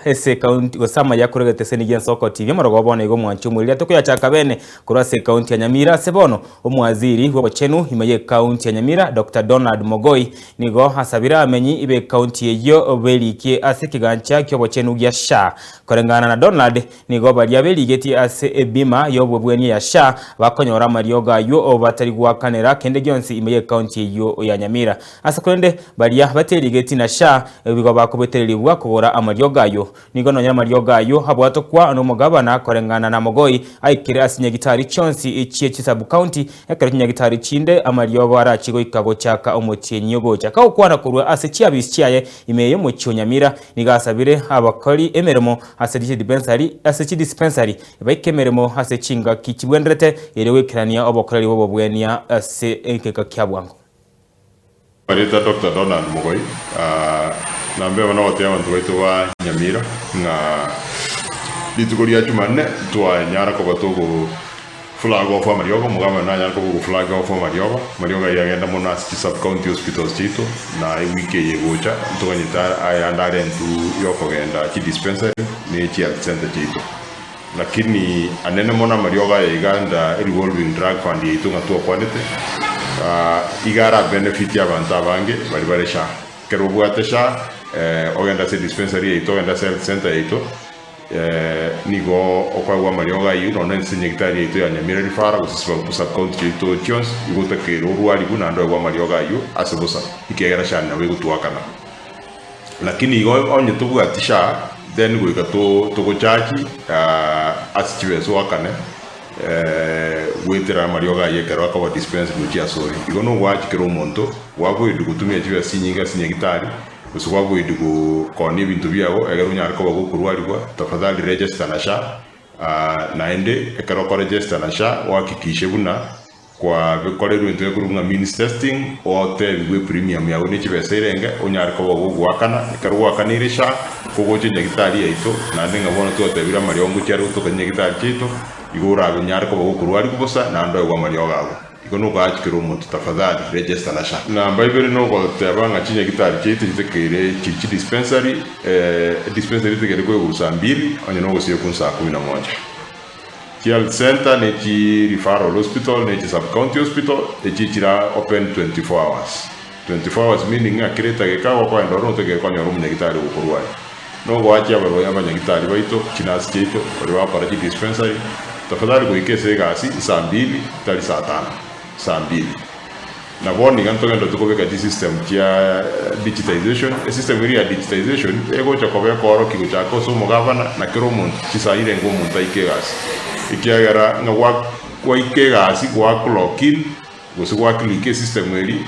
ase ekaunti gose amaye akorwa egeteseni gi'ensoko TV omorogo bono igo omwanche omoriria tokoyachaka bene korwa ase ekaunti ya Nyamira ase bono omwaziri bw'obochenu ime y'ekaunti ya Nyamira Doctor Donald Mogoi nigo asabire amenyi b'ekaunti eyio berikie ase ekegancha ki'obochenu gia SHA koreng'ana na Donald nigo baria berigetie ase ebima y'obobwenia ya SHA bakonyora amariogo ayio batari gwakanera kende gionsi ime y'ekaunti eyio ya Nyamira. Ase korende baria baterigeti na sha nigo bakobetererigwa kogora amariogo ayio. Nigo nonya amariogo ayio abwatokwa nomogabana koreng'ana namogoi aikire ase chinyagitari chionsi chie chisabukaunti, ekero chinyagitari chinde amariogo arachie goika gochaka omotienyi ogochaka gokwana korwa ase chiabisi chiaye ime y'omochie o Nyamira. Nigo asabire abakori emeremo ase chidipensari ase chidispensari baike emeremo ase chingaki chibwenderete erio goikerania obokoreri bw'obobwenia ase egeka kia bwango. Obareta Doctor Donald Mogoi nambemo nogoteebia abanto baito ba Nyamira ng'a rituko ria Jumanne twanyara koba togo flag off amariogo, omogambera nanyare koba ogo flag off amariogo, amariogo ayio agende mono ase chi sub county hospitals chiaito na ewiki eye egocha ntoganyete ayande arentwe yokogenda chi dispensary ne chi health centre chiaito. Lakini anene mono amariogo aye iga under a revolving drug fund yaito ng'a twakwanete, iga ara benefit abanto abange baria bare SHA. Ekero obwate SHA, ogenda ase dispensary yaito, ogenda ase health centre yaito, nigo okagwa amariogo ayio nonya nonye ase nyagitari yaito ya Nyamira Referral gose ase sub county chiaito chionsi, igo otakeirwe orwariwe naende oyegwe amariogo ayio ase bosa ekiagera SHA nabo egotuakana. Lakini igo onye tobwati sha then goika togochachi ase chibesu oakane goetera amariogo ayio ekero akoba dispense gochia asore. Igo nogoachi kera omonto gwaboedi gotumia chibesa chinyinge ase nyagitari gose gwaboedi gokonia ebinto biago ekero onyare koba gokorwarigwa tafadhali register na sha naende ekero okoregesta na sha oakikishe buna Kwa bikorerwe intwe ekorwa ng'a means testing, otebigwe epremium yago ne chibesa erenge, onyare koba ogogoakana, ekero goakanire sha, kogocha nyagitari yaito, naende ng'a bono twatebire amariongo chiare gotokania nyagitari chiaito, igo orabe nyare koba gokorwarigu bosa naende oegwe amariogo ago. Igo nogoachikera omonto tafadhali register na sha. Namba ibere nogoteba ng'a chinyagitari chiaito chitekeire chiri chidispensary, eh, edispensary etekeire kwegusa mbiri onye nogosiekwa nsaa kumi na moja. Chi health centre ne chi referral hospital ne chi sub county hospital echi chira open 24 hours, 24 hours meaning ng'a kera etageka gokoenda ore notoke konyora omonyagitari ogokorwa aria. Na ogoachia abarwaire abanyagitari baito, chi nurse chiaito, baria bagokora chi dispensary, tafadhali goika ase egasi saa mbili tari saa tano, saa mbili. Na bono iga ntogenda tokobeka chisystem chia digitization. Esystem eria ya digitization egocha koba ekoorokia gochaka ase omogabana na kera omonto chinsa aire enga omonto aike egasi. Ekiagera ng'a gwa gwaika egasi gwa clock in gose gwa click esystem eria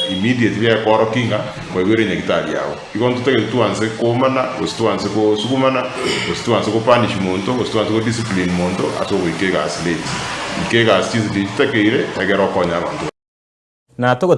immediately ekoorokia ng'a mwaigwere nyagitari yago. Igo ntotagete twanse komana, gose twanse gosugumana, gose twanse gopanish monto, gose twanse godiscipline monto ase ogoika egasi late. Ika egasi chinse chiaye chitakeire, egere okonye abanto. Na